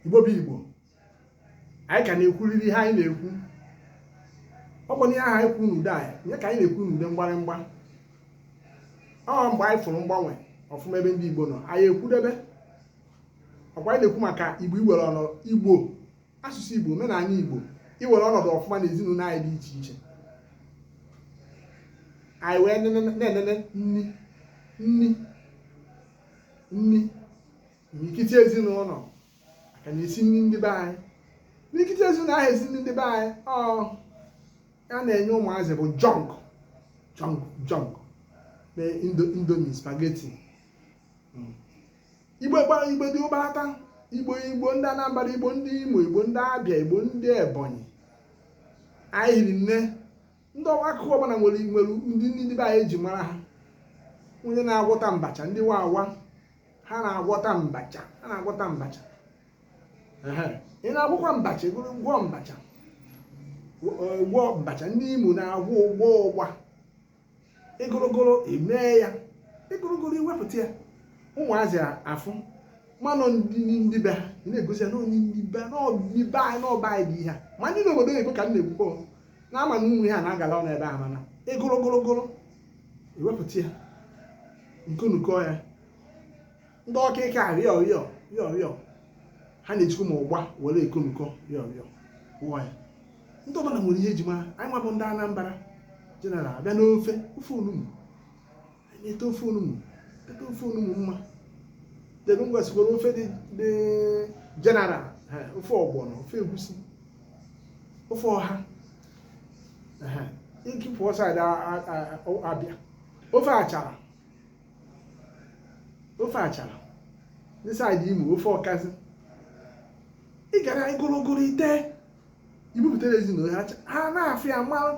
igbo bụ igbo anyị ka na-ekwuriri ihe anyị na-ekwu ọ bụ n'ihe ahụ anyị kwuru n'ude anyị nye ka anyị na-ekwu n'ude mgbarịmgba ọ mgbe anyị fụrụ mgbanwe ọfụma ebe ndị igbo nọ anyị ekwudebe ọ kwa anyị na-ekwu maka igbo iwere ọnọdụ igbo asụsụ igbo omenala igbo iwere ọnọdụ ọfụma na ezinụlọ anyị dị iche iche anyị wee na-enene nni nni nni imirikiti ezinụlọ a ka na-esi nni ndị be anyị imirikiti ezinụlọ aha esi nni ndị be anyị ọ ihe a na-enye ụmụazị bụ junk junk junk na indo indomie spaghetti igbo gbara igbo dị ụbata igbo igbo ndị anambra igbo ndị imo igbo ndị abịa igbo ndị ebonyi anyị hiri nne ndị ọwa akụkụ ọbụla nwere nwere nni ndị be anyị e ji mara ha onye na-agwọta abacha ndị wawa ha na-agwọta abacha ha na-agwọta abacha Ehe. ị na-agwọkwa abacha gụrụ gwọọ abacha ụgba abacha ndị imo na-agwọ ụgba ụgba ịgụrụgụrụ emee ya ịgụrụgụrụ i wepụta ya ụmụazị afụ manụ nni ndị be ha ị na-egosi ya na ọ nni ndị be ha, na ọ- ndị be anyị na ọba anyị dị ihe a. ma ndị n'obodo oyibo ka m na-ekwukwa na a ma na ụmụ ihe a na-agala ọnụ ebe a mana ị gụrụ gụrụ gụrụ i wepụta ya nkunukọ ya ndị ọka ike a rịọ rịọ rịọ rịọ ha na-ejikwa ma ụgba were ekonukọ rịọ rịọ wụọ ya ndị ọbụla nwere ihe e ji mara anyị nwa bụ ndị Anambra general a bịa n'ofe ofe onugbu ete ofe onugbu ete ofe onugbu mma then e nwegasịkwara ofe dị dị general ha, ofe ọgbọnọ ofe egusi ofe ọha ha, ike pụọ side a- a- a- ọ- abịa ofe achara ofe achara ndị side imo ofe ọkazị ị gara gụrụ gụrụ i te i bupụtara ezinụlọ ha ha na-afụ ya mara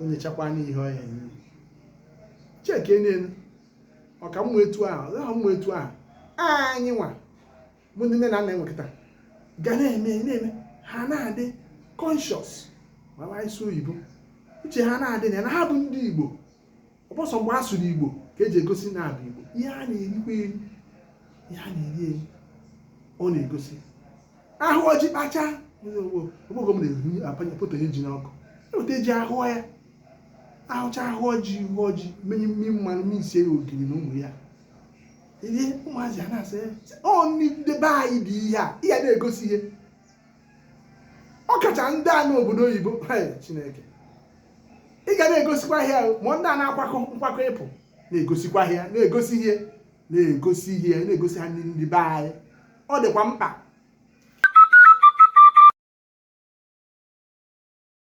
onye chakwa anya ihe ọ ya enye cheke n'elu ọ ka mma etu a ọ ya-aka mma etu a anyị nwa bụ ndị nne na nna enwekịta ga na-eme na-eme ha na-adị conscious ma ị sụọ oyibo uche ha na-adị na ya na ha bụ ndị igbo ọ bụ sọ mgbe a sụrụ igbo ka e ji egosi na a bụ igbo ihe a na-erikwa eri ihe a na-eri eri ọ na-egosi a hụọ ji kpacha ọgbụgbọ m na-ehu apanye foto ihe ji n'ọkụ e weta ji a hụọ ya a hụcha a hụọ ji ị hụọ ji menye mmiri mmanụ mesie ya ogiri na ụmụ ya ihe ụmụazị a na-asị ọ ndị be anyị dị ihe a ihe a na-egosi ihe ọ kacha ndị a n'obodo oyibo chineke ị ga na-egosikwa ihe ma ndị a na-akwakọ nkwakọ ịpụ na-egosikwa ihe na-egosi ihe na-egosi ihe na-egosi ha ndị be anyị ọ dịkwa mkpa